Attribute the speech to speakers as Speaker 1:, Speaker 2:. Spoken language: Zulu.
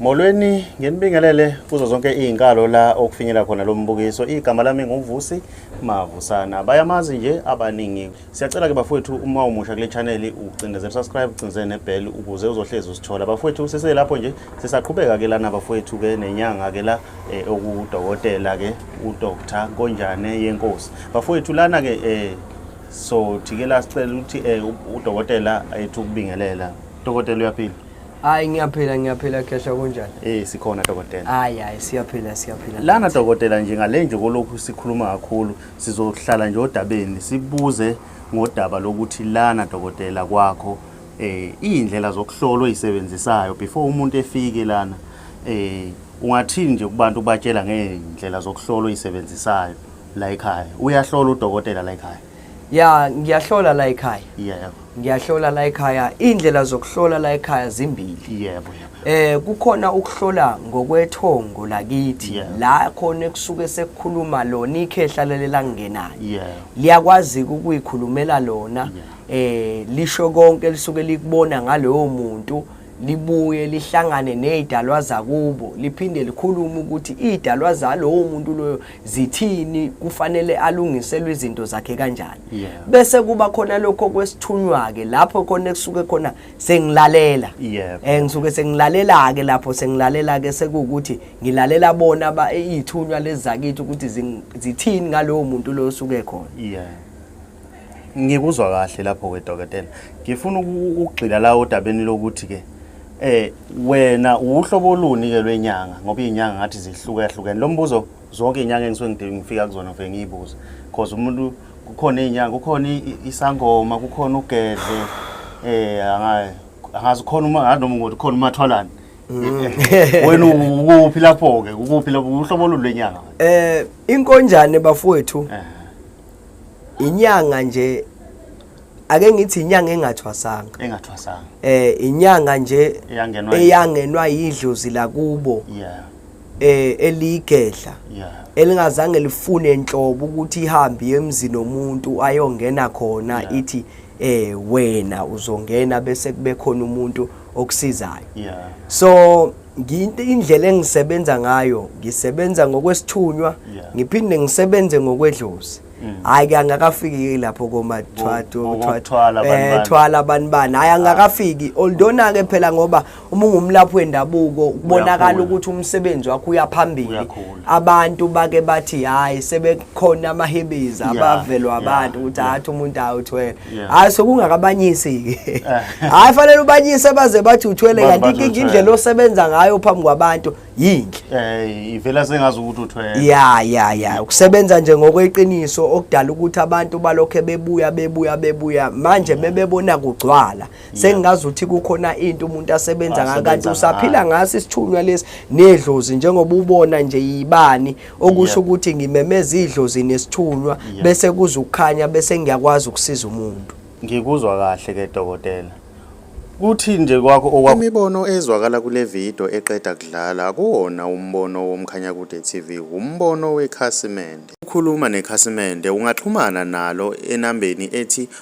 Speaker 1: Molweni nginibingelele kuzo zonke izinkalo la okufinyela khona lo mbukiso. Igama lami nguVusi Mavusana. Bayamazi nje abaningi. Siyacela ke bafowethu uma umusha kule channel ucindezele subscribe, ucindezele nebell ukuze uzohlezi usithola. Bafowethu sise lapho nje sisaqhubeka ke lana bafowethu ke nenyanga ke la eh, okudokotela ke uDr. Konjane yenkosi. Bafowethu lana ke eh so thike la sicela ukuthi eh, udokotela ethu kubingelela. Dokotela uyaphila. Hayi ngiyaphila
Speaker 2: ngiyaphila khehla kunjani? Eh sikhona dokotela.
Speaker 1: Hayi hayi siyaphila
Speaker 2: siyaphila. Lana dokotela
Speaker 1: nje ngale nje kolokhu sikhuluma kakhulu sizohlala nje odabeni sibuze ngodaba lokuthi lana dokotela kwakho eh indlela zokuhlola oyisebenzisayo before umuntu efike lana eh ungathini nje kubantu batshela ngeindlela zokuhlola oyisebenzisayo la ekhaya uyahlola udokotela la ekhaya ya ngiyahlola
Speaker 2: la ekhaya yebo ngiyahlola
Speaker 1: la ekhaya
Speaker 2: indlela zokuhlola la ekhaya zimbili yebo eh
Speaker 1: kukhona ukuhlola
Speaker 2: ngokwethongo lakithi la khona ekusuke sekukhuluma lona ikhehla lelela ngenayo liyakwazi ukuyikhulumela lona eh lisho konke lisuke likubona ngalowo muntu libuye lihlangane nezidalwa zakubo liphinde likhulume ukuthi izidalwa zalowo muntu loyo zithini kufanele alungiselwe izinto zakhe kanjani yeah. bese kuba khona lokho kwesithunywa ke lapho khona kusuke khona sengilalela yeah. eh ngisuke sengilalela ke lapho sengilalela ke sekuwukuthi ngilalela bona ba eh, izithunywa lezakithi ukuthi zithini ngalowo muntu lo osuke khona yeah.
Speaker 1: ngikuzwa kahle lapho ke dokotela ngifuna ukugxila la odabeni lokuthi ke eh wena uhlobo oluni ke lwenyanga ngoba izinyanga ngathi zihluka hlukene lo mbuzo zonke izinyanga engisuke ngidinga ngifika kuzona ngifike ngiyibuze because umuntu kukhona izinyanga kukhona isangoma kukhona ugedle eh angayi angazi khona uma nganoma ngothi khona umathwalana mm. wena ukuphi lapho ke ukuphi lapho uhlobo oluni lwenyanga eh inkonjane
Speaker 2: bafowethu eh. inyanga nje ake ngithi inyanga engathwasanga engathwasanga eh inyanga nje eyangenwa eyangenwa yidlozi lakubo yeah eh eligedla yeah elingazange lifune enhlobo ukuthi ihambe emzini omuntu ayongena khona ithi eh wena uzongena bese kube khona umuntu okusizayo yeah so nginto indlela engisebenza ngayo ngisebenza ngokwesithunywa yeah. ngiphinde ngisebenze ngokwedlozi mm. hayi ke angakafiki lapho koma thwathu thwathu eh thwala abantu bani hayi angakafiki oldona ke phela ngoba uma ungumlaphi wendabuko kubonakala ukuthi umsebenzi wakho uyaphambili abantu bake bathi hayi sebekhona amahebezi abavelwa abantu ukuthi hathi umuntu hayi uthwele hayi sokungakabanyisi-ke eh. hayi fanele ubanyise baze bathi uthwele kanti inkinga indlela osebenza ngayo phambi kwabantu yinhle eh, ivela sengazi ukuthi
Speaker 1: uthwele ya ya ya
Speaker 2: ukusebenza nje ngokweqiniso okudala ukuthi abantu balokhe bebuya bebuya bebuya manje mebebona kugcwala mm. sengingazi ukuthi kukhona into umuntu asebenza ngayo kanti usaphila ngaso isithunywa lesi nedlozi njengoba ubona nje yibani okusho ukuthi ngimemeza idlozi nesithunywa bese kuzukhanya bese ngiyakwazi ukusiza umuntu ngikuzwa kahle
Speaker 1: ke dokotela kuthi nje kwakho okwakho imibono ezwakala kule video eqeda kudlala akuwona umbono womkhanya kude TV umbono wekhasimende ukhuluma nekhasimende ungaxhumana nalo enambeni ethi